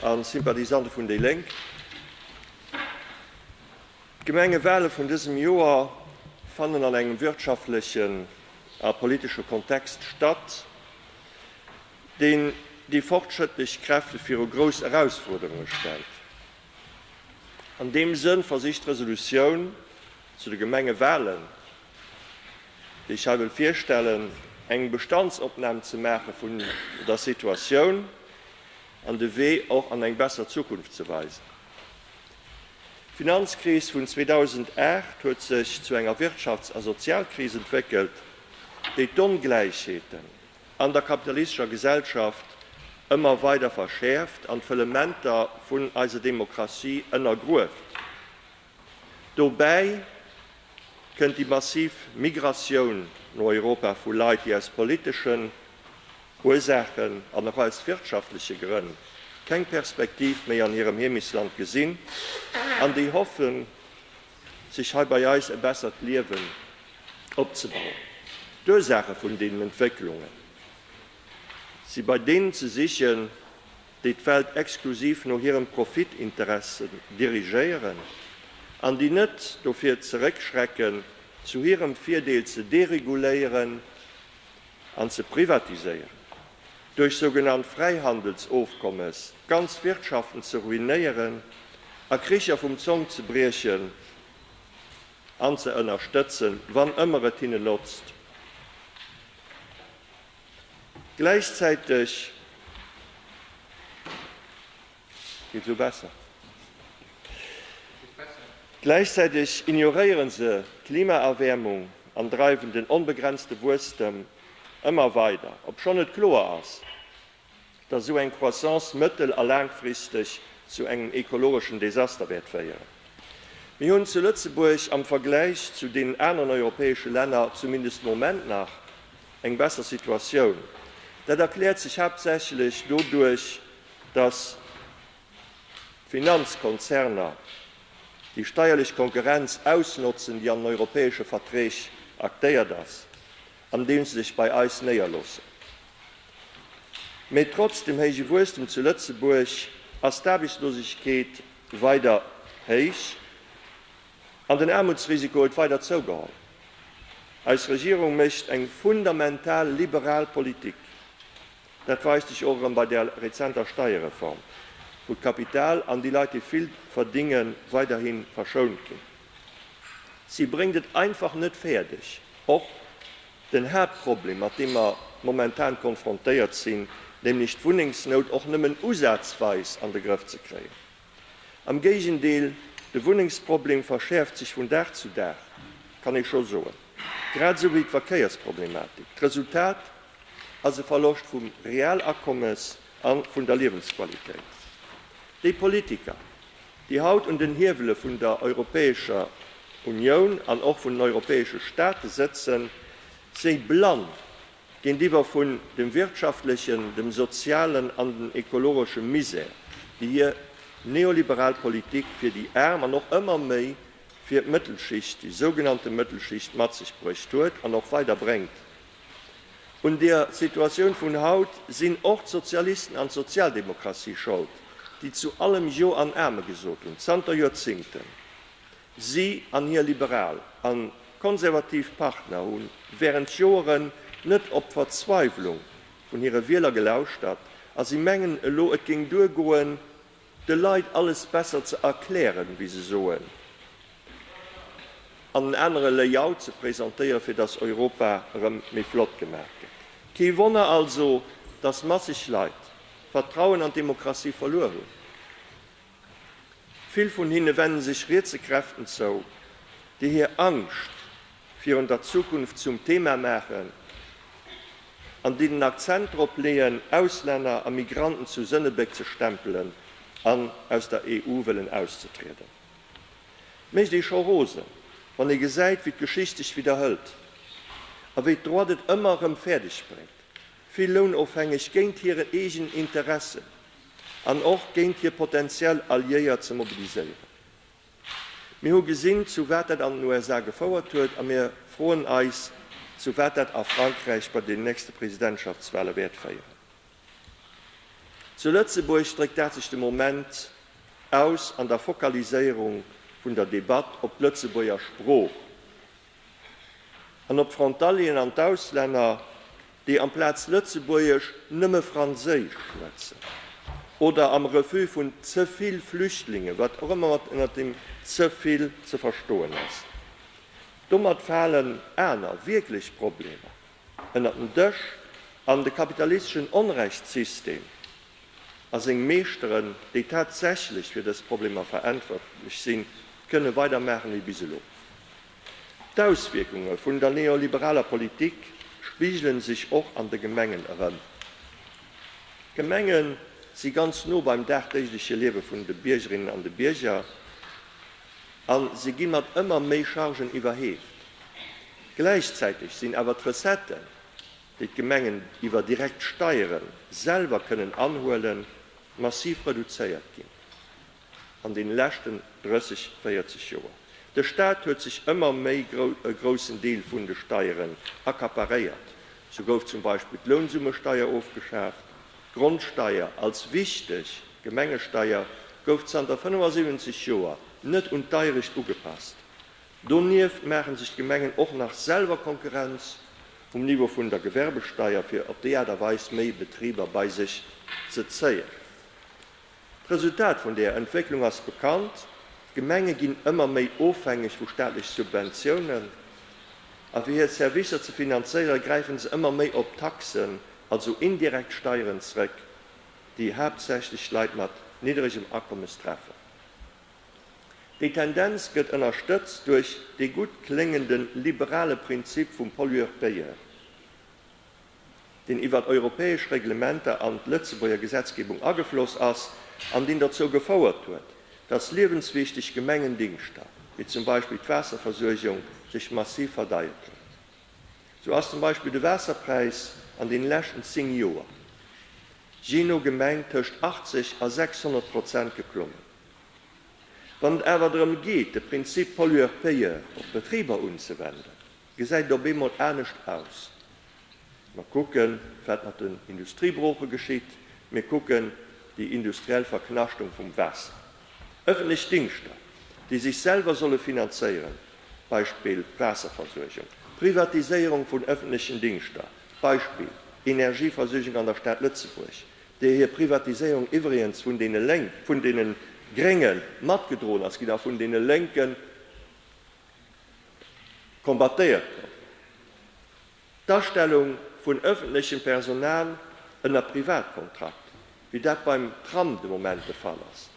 an d'Sympathisante vun déi Lénk. D'Gemengewale vun dësem Joer fannen an engem wirtschaftlechen a politesche Kontext statt, deen déi fortschrëttlech Kräfte viru grouss Erausfuerderunge stellt. An deem Sënn versicht d'Resolutioun zu de Gemengewalen, déi ech hei wëll virstellen, eng Bestandsopnam ze maache vun der Situatioun an de Wee och an eng besser Zukunft ze weisen. D'Finanzkris vun 2008 huet sech zu enger Wirtschafts a Sozialkris entwéckelt, déi d'Ongläichheeten, an der kapitalistescher Gesellschaft ëmmer weider verschäerft an d'Fëllementer vun eiser Demokratie ënnergrueft. Dobäi kënnt déi massiv Migratioun no Europa vu Leit, déi aus politeschen Ursaachen an och aus wirtschaftleche Grënn keng Perspektiv méi an hirem Heemechtsland gesinn an déi hoffen, sech hei bei eis e bessert Liewen opzebauen. D'Ursaache vun deenen Entwécklunge si bei deenen ze sichen, déi d'Welt exklusiv no hiren Profitinteressen dirigéieren an déi net dovir zeréckschrecken, zu hirem Virdeel ze dereguléieren an ze privatiséieren, duerch sougenannt Fräihandelsofkommes ganz Wirtschaften ze ruinéieren, a Kricher vum Zong ze briechen an ze ënnerstëtzen, wann ëmmer et hinne lotzt. Gläichzäiteg. Geet esou besser? Gläichzäiteg ignoréieren se d'Klimaerwäermung an dreiwen den onbegrenzte Wuesstem ëmmer weider, obschonn et kloer ass, dass esou eng Croissance mëttel a laangfristeg zu engem ekologeschen Desaster wäert féieren. Mir hunn zu Lëtzebuerg am Vergläich zu deenen aneren europäesche Länner, zumindest de Moment nach, eng besser Situatioun. Dat erkläert sech haaptsächlech doduerch, dass d'Finanzkonzerner déi steierlech Konkurrenz ausnotzen, déi an den europäesche Verträg aktéiert ass, andeem se sech bei eis néierloossen. Mee trotz dem héije Wuesstem zu Lëtzebuerg ass d'Aarbechtslosegkeet weider héich an den Aarmutsrisiko huet weider zougeholl. Eis Regierung mécht eng fundamental liberal Politik, Dat weist sech och erëm bei der rezenter Steierreform, wou d'Kapital an déi Leit, déi vill verdinge weiderhi verschount ginn. Si bréngt et einfach net fäerdeg, och den Haaptproblem, mat deem mer momentan konfrontéiert sinn, nämlech d'Wunnengsnout och nëmmen usazweis an de Grëff ze kréien. Am Géigendeel, de Wunnengsproblem verschäerft sech vun Dag zu Dag, kann ee scho soen, grad esou wéi d'Verkéiersproblematik. D'Resultat ass e Verloscht vum Realakommes a vun der Liewensqualitéit. Déi Politiker, déi haut un den Hiewele vun der Europäescher Unioun an och vun den europäesche Staate sëtzen, si blann Géintiwwer vun dem wirtschaftlechen, dem sozialen an den ekologesche Misär, déi hir neoliberal Politik fir déi Aarm an och ëmmer méi fir d'Mëttelschicht, déi sougenannte Mëttelschicht, mat sech bruecht huet an och weider bréngt. Un der Situatioun vun haut sinn och d'Sozialisten an d'Sozialdemokratie schold, déi zu allem Jo an Amen gesot hunn, zanter Joerzingten. Si an hir liberal a konservativ Partner hu wärend Joeren net op d'Verzweiwlung vun hire Wieler gelauschtert a si mengen elo, et géing duer goen, de Leit alles besser ze erklären, wéi se soen, an en anere Layout ze presentéieren, fir datt Europa erëm méi flott gemaach gëtt. Kee Wonner also, datt masseg Leit d'Vertrauen an d'Demokratie verluer hunn. Vill vun hinne wenne sech rietse Kräften zou, déi hir Angscht virun der Zukunft zum Thema maachen an déi den Akzent drop leeën, Auslänner a Migranten zu Sënnebéck ze stempelen an aus der EU wëllen auszetrieden. Et mécht ee scho rosen, wann ee gesäit, wéi d'Geschicht sech widderhëlt a wéi d'Droite et ëmmer erëm fäerdeg bréngt, vill Lounofhängeg géint hiren eegenen Interessen an och géint hir potentiell Alliéiert ze mobiliséieren. Mir hu gesinn, zu wat dat an den USA gefouert huet, a mir froen eis, zu wat dat a Frankräich bei den nächste Presidentschaftswale wäert féieren. Zu Lëtzebuerg dréckt dat sech de Moment aus an der Fokaliséierung vun der Debatt op d'Lëtzebuerger Sprooch, an op d'Frontalieren an d'Auslänner, déi amplaz Lëtzebuergesch nëmme Franséisch schwätzen, oder am Refus vun ze vill Flüchtlinge, wat och ëmmer mat ënnert deem ze vill ze verstoen ass. Domat falen aner wierklech Problemer, ënnert den Dësch an de kapitalisteschen Onrechtssystem a seng Meeschteren, déi tatsächlech fir dës Problemer verantwortlech sinn, kënne weidermaache wéi bis elo. D'Auswierkunge vun der neoliberaler Politik spigele sech och an de Gemengen erëm. D'Gemenge si ganz no beim dagdéigleche Liewe vun de Biergerinnen an de Bierger a se gi mat ëmmer méi Chargen iwwerheeft. Gläichzäiteg sinn awer d'Recetten, déi d'Gemengen iwwer direkt Steiere selwer kënnen anhuelen, massiv reduzéiert ginn an deene leschten 30, 40 Joer. De Staat huet sech ëmmer méi e groussen Deel vun de Steieren accaparéiert. Sou gouf zum Beispill d'Lounsummesteier ofgeschaaft. D'Grondsteier als wichteg Gemengesteier gouf zanter 75 Joer net un d'Deierecht ugepasst, Donieft maachen sech d'Gemengen och nach selwer Konkurrenz um Niveau vun der Gewerbesteier, fir op déi Aart a Weis méi Betriber bei sech ze zéien. D'Resultat vun deeër Entwécklung ass bekannt, D'Gemenge ginn ëmmer méi ofhängeg vu staatlech Subventiounen, a fir hir Servicer ze finanzéiere gräife se ëmmer méi op Taxen, also indirekt Steieren, zréck, déi haaptsächlech Leit mat nidderegem Akommes treffen. Déi Tendenz gëtt ënnerstëtzt duerch dee gutt kléngende liberale Prinzip vum Pollueur-payeur, deen iwwert europäesch Reglementer an d'Lëtzebuerger Gesetzgebung agefloss ass an deen dozou gefouert huet, datt liewenswichteg Gemengendingschter, wéi zum Beispill d'Waasserversuergung, sech massiv verdeiert hunn. Sou ass zum Beispill de Waasserpräis an deene leschten 10 Joer, jee no Gemeng, tëscht 80 a 600 Prozent geklommen. Wann et awer drëm geet, de Prinzip Pollueur-payeur op d'Betriber unzewenden, gesäit et op eemol anescht aus. Mer kucken, wat mat den Industriebrooche geschitt, mir kucken déi industriell Verknaschtung vum Waasser. Ëffentlech Dingschter, déi sech selwer solle finanzéieren, Beispill Waasserversuergung, Privatiséierung vun ëffentlechen Dingschter, Beispill Energieversuergung an der Stad Lëtzebuerg, déi hir Privatiséierung iwwregens vun deene Lénk, vun deene Grénge matgedroen ass ginn a vun deene Lénke combattéiert gouf, d'Astellung vun ëffentlechem Personal ënner Privatkontrakt, wéi dat beim Tram de Moment de Fall ass,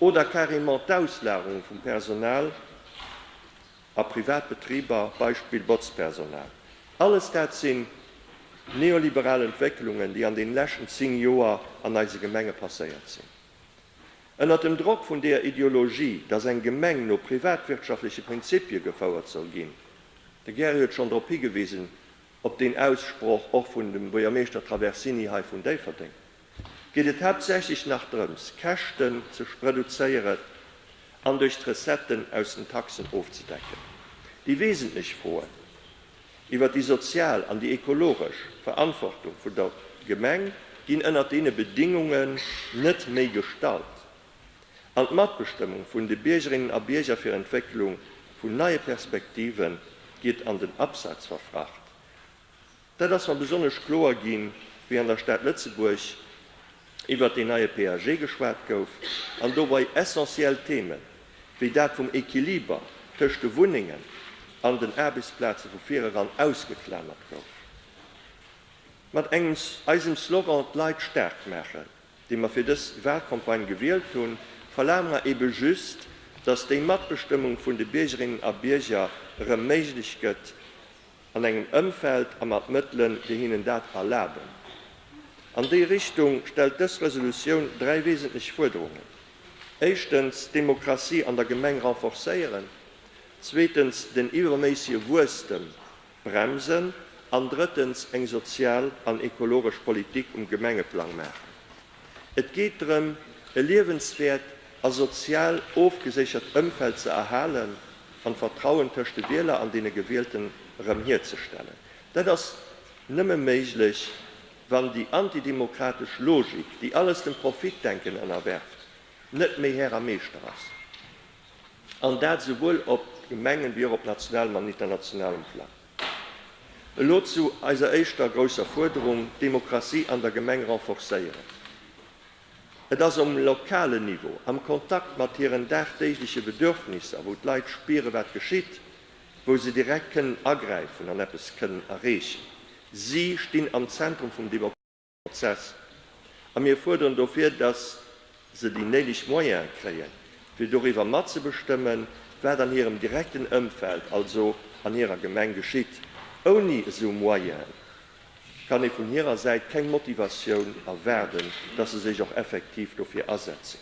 oder carrément d'Auslagerung vum Personal. a privat Betriber, Beispill Botzpersonal. Alles dat sinn neoliberal Entwécklungen, déi an den leschten 10 Joer an eise Gemenge passéiert sinn. Ënnert dem Drock vun deer Ideologie, dass eng Gemeng no privatwirtschaftleche Prinzipie gefouert soll ginn, de Gary huet schonn drop higewisen, op deen Aussproch och vun dem Buergermeeschter Traversini hei vun Déifferdeng, geet et haaptsächlech nach drëms, Käschten ze reduzéieren an duerch d'Recetten aus den Taxen ofzedecken. Déi wesentlech Froen iwwert déi sozial an déi ekologesch Verantwortung vun der Gemeng ginn ënnert deene Bedingungen net méi gestallt an d'Matbestëmmung vun de Biergerinnen a Bierger fir Entwécklung vun neie Perspektive geet an den Abseits verfracht. Dat ass mer besonnesch kloer ginn, wéi an der Stad Lëtzebuerg iwwert deen neie PAG geschwat gouf an dobei essentiell Themen, wéi dat vum Equiliber tëscht de Wunnengen an den Aarbechtsplaze vu vireran ausgeklamert gouf. Mat engem eisem Slogan D'Leit staark maachen, dee mer fir dës Wahlcampagne gewielt hunn, verlaange mer ebe just, dass déi Matbestëmmung vun de Biergerinnen a Bierger erëm méiglech gëtt, an engem Ëmfeld a mat Mëttelen, déi hinnen dat erlaben. An déi Richtung stellt dës Resolutioun dräi wesentlech Fuerderungen, éischtens, d'Demokratie an der Gemeng renforcéieren, zweetens, den iwwerméissege Wuesstem bremsen an drëttens, eng sozial an ekologesch Politik um Gemengeplang maachen. Et geet drëm, e liewenswäert a sozial ofgeséichert Ëmfeld ze erhalen an d'Vertrauen tëscht de Wieler an deene Gewielten erëm hierzestellen. Dat ass nëmme méiglech, wann déi antidemokratesch Logik, déi alles dem Profitdenken ënnerwerft, net méi Här a Meeschter ass, an dat esouwuel op Gemengen wéi och op nationalem an internationalem Plang. Elo zu eiser éischter grousser Fuerderung, d'Demokratie an der Gemeng renforcéieren. Et ass um lokalen Niveau, am Kontakt mat hiren dagdéigleche Bedürfnisser, wou d'Leit spieren, wat geschitt, wou se direkt kënnen agräifen an eppes kënnen erreechen. Si stinn am Zentrum vum. Prozess. A mir fuerderen dofir, datt se déi néideg Moyene kréien, fir doriwwer matzebestëmmen, wat an hirem direkten Ëmfeld, also an hirer Gemeng geschitt. Ouni esou Moyene kann ee vun hirer Säit keng Motivatioun erwaarden, datt se sech och effektiv dofir asetzen.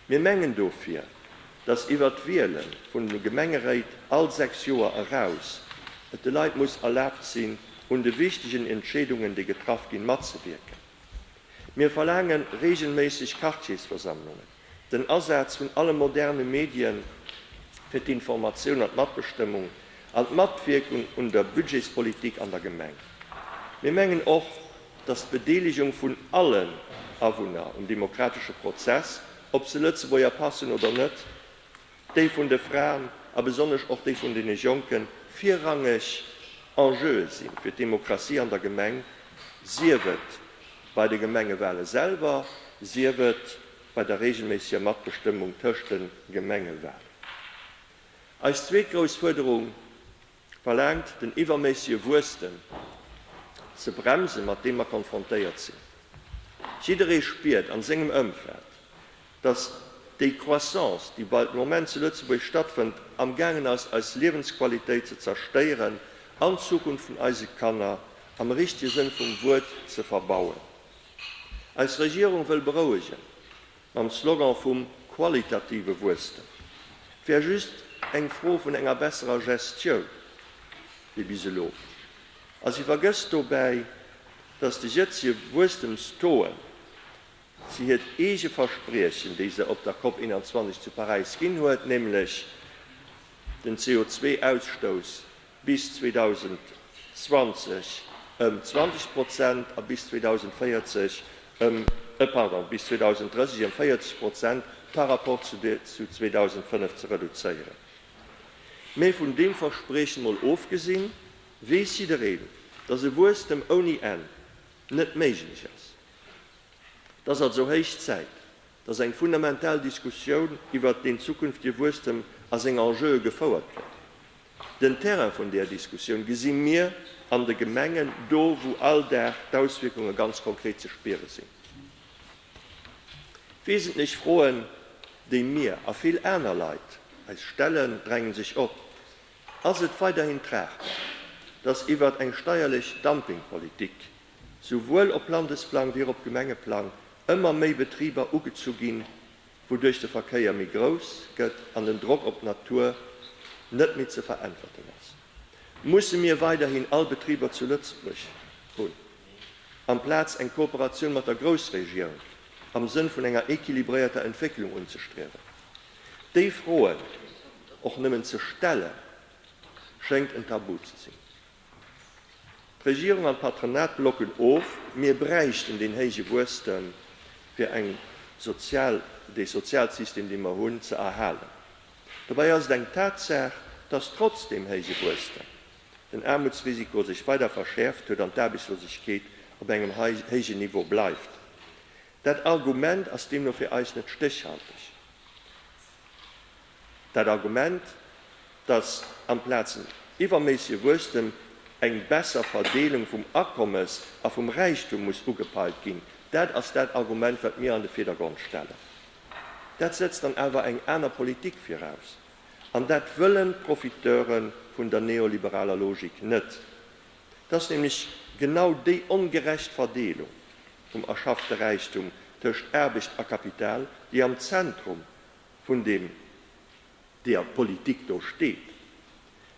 Mir mengen dofir, dass iwwert d'Wiele vun de Gemengeréit all sechs Joer eraus et de Leit muss erlaabt sinn, un de wichtegen Entscheedungen, déi getraff ginn, matzewierken. Mir verlaange reegelméisseg Quartiersversammlungen, den Asaz vun alle moderne Medien fir d'Informatioun an d'Matbestëmmung an d'Matwierkung un der Budgetspolitik an der Gemeng. Mir mengen och, datt d'Bedeelegung vun allen Awunner um demokratesche Prozess, ob se Lëtzebuerger Pass hunn oder net, déi vun de Fraen a besonnesch och déi vun deene Jonken, virrangeg Enjeue sinn fir d'Demokratie an der Gemeng, sief et bei de Gemengewale selwer, sief et bei der reegelméisseger Matbestëmmung tëscht de Gemengewalen. Eis zweet grouss Fuerderung Verlaangt, den iwwerméissege Wuesstem ze bremsen, mat deem mer konfrontéiert sinn. Jidderee spiert an sengem Ëmfeld, dass déi Croissance, déi bei de Moment zu Lëtzebuerg stattfënnt, am gaangen ass, eis Liewensqualitéit ze zerstéieren an d'Zukunft vun eise Kanner am richtege Sënn vum Wuert ze verbauen. Eis Regierung wëll berouegen. Mam Slogan vum qualitative Wuesstem wär just eng Fro vun enger besserer Gestioun wéi bis elo. A si vergësst dobäi, datt déi jëtzege Wuesstemstouen, si hiert eege Verspriechen, déi se op der Cop 21 zu Paräis ginn huet, nämlech den CO2-Ausstouss bis 2020 ëm 20 Prozent a bis 2040 ëm, pardon, bis 2030 ëm 40 Prozent par rapport zu 2005 ze reduzéieren. Mä vun deem Verspriechen emol ofgesinn, weess jiddereen, dass e Wuesstem ouni Enn net méiglech ass. Et ass also héich Zäit, dass eng fundamental Diskussioun iwwert deen zukünftige Wuesstem a seng Enjeue gefouert gëtt. Den Terrain vun där Diskussioun gesi mir an de Gemengen, do wou all Dag d'Auswierkunge ganz konkret ze spiere sinn. Wesentlech Froen, déi mir a vill aner Leit eis stellen, drängen sech op, Ass et weiderhin tragbar, dass iwwert eng steierlech Dumpingpolitik souwuel op Landesplang wéi och op Gemengeplang ëmmer méi Betriber ugezu ginn, wouduerch de Verkéier méi grouss gëtt an den Drock op d'Natur net méi ze veräntwerten ass. Musse mir weiderhin all Betriber zu Lëtzebuerg hunn, amplaz eng Kooperatioun mat der Groussregioun am Sënn vun enger equilibréierter Entwécklung unzestriewen? Déi Froen och nëmmen ze stellen, schéngt en Tabu ze sinn. D'Regierung an d'Patronat blocken of, Mir bräichten deen héije Wuesstem, fir eng sozial, dee Sozialsystem, dee mer hunn, ze erhalen. Dobäi ass et eng Tatsaach, dass trotz deem héije Wuesstem den Aarmutsrisiko sech weider verschäerft huet an d'Aarbechtslosegkeet op engem héijen Niveau bleift. Dat Argument ass deemno fir eis net stéchhalteg. Dat Argument, datt amplaz en iwwerméissege Wuesstem eng besser Verdeelung vum Akommes a vum Räichtum muss ugepeilt ginn, dat ass dat Argument, wat mir an de Virdergrond stellen. Dat setzt dann awer eng aner Politik viraus. An dat wëllen d'Profiteure vun der neoliberaler Logik net. Et ass nämlech genau déi ongerecht Verdeelung vum erschaffte Räichtum tëscht Aarbecht a Kapital, déi am Zentrum vun deem deeër d'Politik do steet.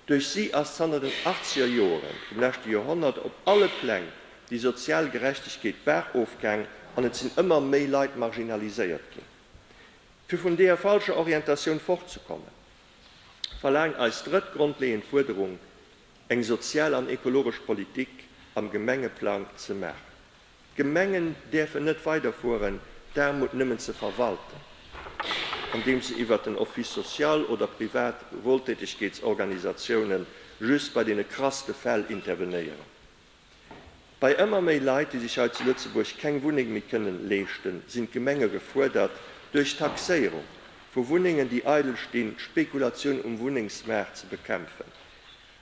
Duerch si ass zanter den achtzeger Joere vum leschte Joerhonnert op alle Pläng déi sozial Gerechtegkeet baach-of gaang an et sinn ëmmer méi Leit marginaliséiert ginn. Fir vun deeër falscher Orientatioun fort ze kommen, verlaangt eis drëtt grondleeënd Fuerderung, eng sozial an ekologesch Politik am Gemengeplang ze maachen. D'Gemengen däerfen net weiderfueren, d'Aarmut nëmmen ze verwalten, andeems se iwwert den Office social oder privat Wohltätigkeitsorganisatiounen just bei deene krasste Fäll intervenéieren. Bei ëmmer méi Leit, déi sech hei zu Lëtzebuerg keng Wunneng méi kënnen leeschten, sinn d'Gemenge gefuerdert, duerch d'Taxéierung vu Wunnengen, déi eidel stinn, d'Spekulatioun um Wunnengsmaart ze bekämpfen.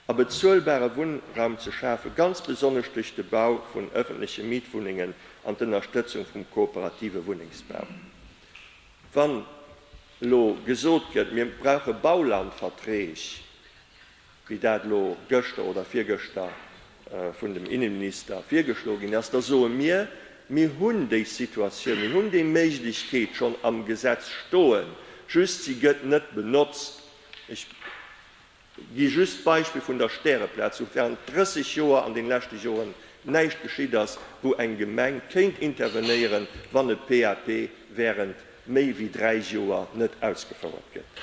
a bezuelbare Wunnraum ze schafen, ganz besonnesch duerch de Bau vun ëffentleche Mietwunnengen an d'Ënnerstëtzung vum kooperative Wunnengsbau. Wann elo gesot gëtt, mir brauche Baulandverträg, wéi dat elo gëschter oder virgëschter vun dem Innenminister virgeschlo ginn ass, da soe mir, Mir hunn déi Situatioun, mir hunn déi Méiglechkeet schonn am Gesetz stoen, just si gëtt net benotzt. Ech. Gi just d'Beispill vun der Stäreplaz, wou während 30 Joer an den leschte Joren näischt geschitt ass, wou eng Gemeng kéint intervenéieren, wann e PAP während méi wéi 3 Joer net ausgefouert gëtt.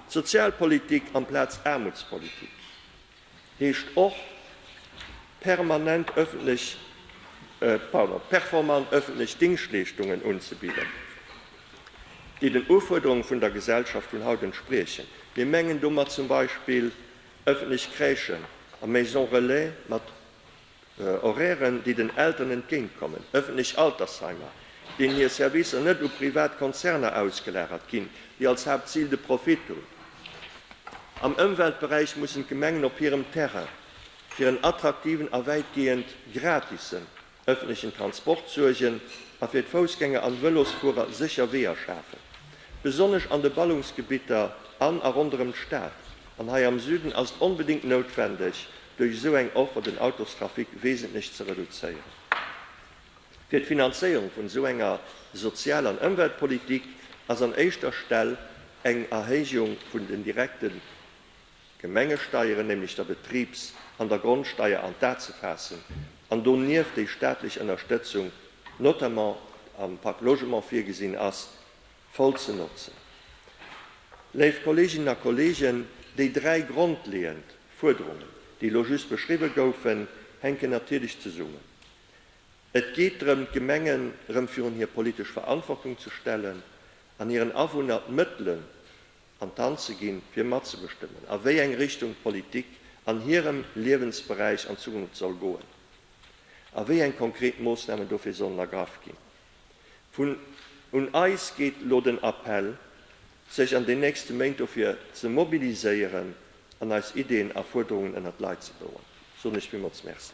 Sozialpolitik amplaz Aarmutspolitik heescht och permanent öffentlech, pardon, performant öffentlech Dingschtleeschtungen unzebidden. déi den Ufuerderunge vun der Gesellschaft vun haut entspriechen. Mir mengen domat zum Beispill ëffentlech Crèchen a Maisons relais mat Horairen, déi den Elteren entgéint kommen, ëffentlech Altersheimer, deenen hir Servicer net u privat Konzerner ausgelagert ginn, déi als Haaptzil de Profit hunn. Am Ëmweltberäich mussen d'Gemengen op hirem Terrain fir en attraktiven a wäitgehend gratise ëffentlechen Transport suergen a fir d'Foussgänger an Vëlosfuerer sécher Weeër schafen. Besonnesch an de Ballungsgebitter an a ronderëm d'Stad an hei am Süden ass et onbedéngt noutwendeg, duerch esou eng Offer den Autostrafic wesentlech ze reduzéieren. Fir d'Finanzéierung vun esou enger Sozial an Ëmweltpolitik ass an éischter Stell eng Erhéijung vun den direkte Gemengesteieren, nämlech der Betribs an der Grondsteier an d'A ze faassen an donieft déi staatlech Ënnerstëtzung, notamment am Pak Logement virgesinn ass, voll ze notzen. Léif Kolleeginnen a Kolleegen, déi dräi grondleeënd Fuerderungen, déi elo just beschriwwe goufen, hänken natierlech zesummen. Et geet drëm, d'Gemengen erëm virun hir politesch Verantwortung ze stellen an hiren Awunner d'Mëttelen an d'Hand ze ginn, fir matzebestëmmen, a wéi eng Richtung d'Politik an hirem Liewensberäich an Zukunft soll goen a wéi eng konkret Moossnamen dofir sollen ergraff ginn. Vun un eis geet elo den Appell, sech an den nächste Méint dofir ze mobiliséieren an eis Ideen a Fuerderungen ënnert d'Leit ze bouwen. Soen ech villmools Merci.